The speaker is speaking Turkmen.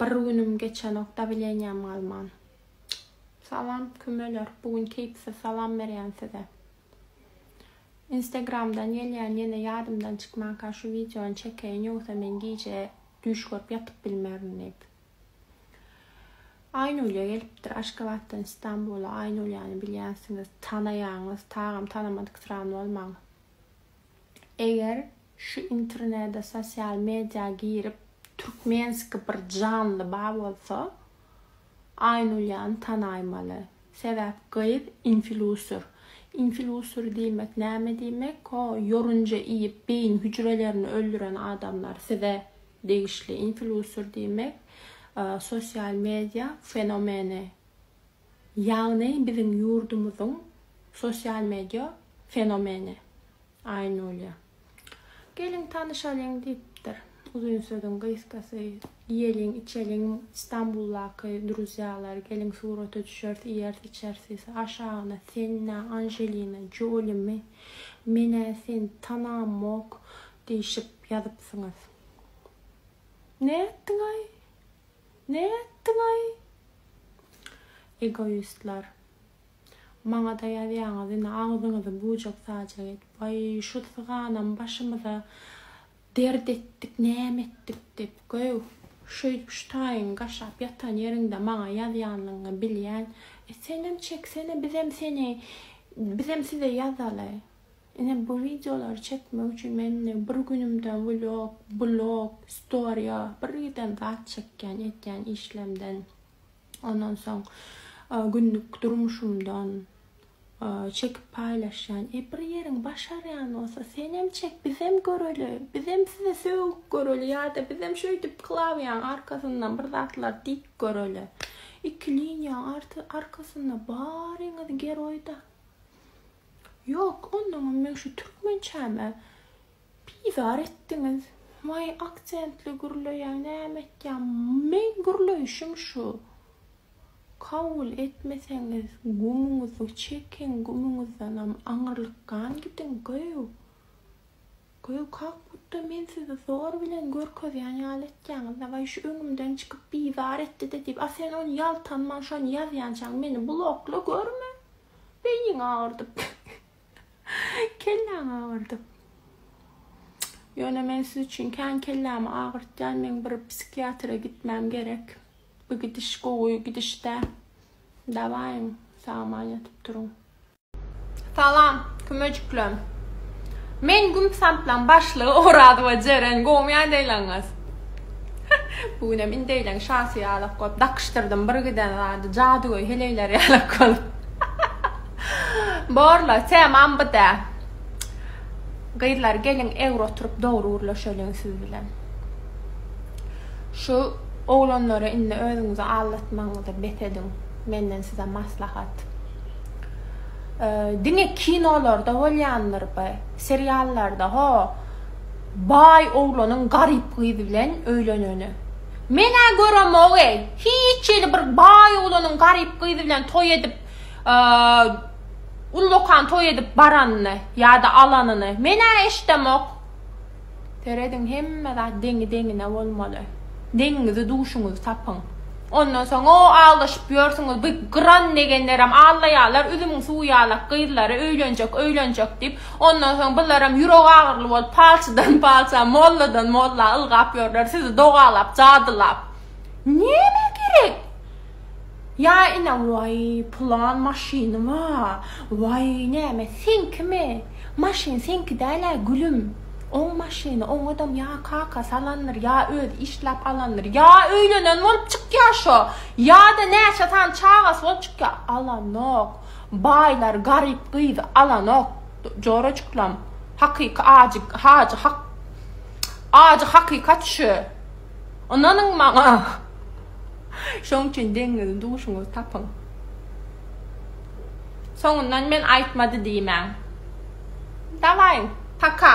Bir günüm geçenok dawleniýam galman. Salam kümeler bu gün keýpsiz salam berýän size. Instagramdan gelýän ýene ýadymdan çykmanka şu wideony çekeýin ýogsa men gije düýş görüp ýatyp bilmerin diýip. Aýnulýa gelipdir Aşgabatdan Istanbula Aýnulýany bilýänsiňiz tanaýaňyz tagam tanamadyk sran bolmaň. Eger şu internede sosial media girip türkmenski bir janly bar bolsa Aýnulýany tanaýmaly. Sebäp gyz infilusur. Infilusur diýmek näme diýmek o ýorunja iýip beýin hüjrelerini öldüren adamlar size degişli infilusur diýmek sosial media fenomeni Ýagny biziň ýurdumyzyň sosial media fenomeni Aýnulýa. Geliň tanyşalyň diýipdir. Uzyn sözüň gysgasy, iýeliň, içeliň Stambuldaky druzýalar, geliň surata düşeris, iýeris, içeris, aşagyna sen-ä Anjelina Jolimi, men-ä seni tanamok diýşip ýazypsyňyz. Nätdiň-aý? Näme etdiňaý? Egoistler. Maňada ýazýaňyz indi agzyňyzy bujak sajak edip waý şu syganam başymyza dert etdik näme etdik dip göw şeýdip şu taýyň gaşap ýatan ýeriňde maňa ýazýanlygyňy bilýän e senem çeksene bizem seni bizem size ýazaly Ine bu wideolary çekmek üçin men indi bir günümden vlog, blog, storia birgiden zat çekýän etýän işlemden ondan soň günlük durmuşymdan çekip paýlaşýan. E bir ýeriň başarýan bolsa senem çek bizem göreli, bizem size sögüp göreli ýa-da bizem şeýdip klawiýaň arkasyndan bir zatlar diýip göreli. Iki liniýaň arkasynda baryňyz geroýda. Ýok, onnoňam meň şu türkmençäme bizar etdiňiz. Waý, aksentli gürleýäň, näme etýäň? Meň gürleýşim şu. Kabul etmeseňiz, gumuňyzy çekiň, gumuňyzdanam aňyrlykgan gidiň, göw. Göw, kak butda men sizi zor bilen görkezýän ýaly etýäňiz-dä. Waý, şu öňümden çykyp bizar etdi-de diýip, a sen ony ýaltanman şony ýazýançaň meni blokla, görme! Beýniň agyrdyp. Kelläň agyrdyp. Ýöne men siz üçin kän kellämi agyrtýan, meň bir psihiatra gitmäm gerek. Bu gidiş gowy gidiş däl. Dawaýyň, sag-aman ýatyp duruň. Salam, kümejiklerim. Men Gümsamplaň başlygy Oraz we Jeren gowmy ýaýdaýlaňyz? Bu günem indeýleň şasy ýalak bolup dakyşdyrdym bir giden zady jadygöý heleýler ýalak bolup Borla temam bu dä Gyzlar geliň egri oturyp dogry gürleşeliň siz bilen Şu oglanlara indi özüňizi aldatmagyňyzy bes ediň menden size maslahat Diňe kinolarda bolýandyr by seriallarda ho Baý oglanyň garyp gyz bilen öýleneni. Men-ä göremog-eý, hiç hili bir baý oglanyň garyp gyz bilen toý edip, ullakan toý edip baranyny ýa-da alanyny men-ä eşidemok. Serediň, hemme zat deňi-deňine bolmaly. Deňiňizi, duşuňyzy tapyň. Ondan soň-o aldaşyp ýörsüňiz, bu gyran negenlerem aldaýarlar, üzümiň suwy ýalak gyzlary öýlenjek, öýlenjek diýip, Ondan soň bularam ýürek agyryly bolup, palçydan palça, molladan molla ylgap ýörler, sizi dogalap, jadylap. Näme gerek? Ýa ine, waý, pylan maşyny ba, waý, näme, seňkimi? Maşyn seňki däl-ä, gülüm. Oň maşyny, oňadam ýa kakasy alandyr, ýa özi işläp alandyr, ýa öýlenen bolup çykýar şo, ýa-da näçe sany çagasy bolup çykýar, alanok. Baýlar garyp gyzy alanok jorajyklam hakyky ajy hajy hak ajy hakykat şu ynanyň maňa şoň üçin deňňizi duşuňyz tapyň soňundan men aýtmady diýmäň dawaý paka.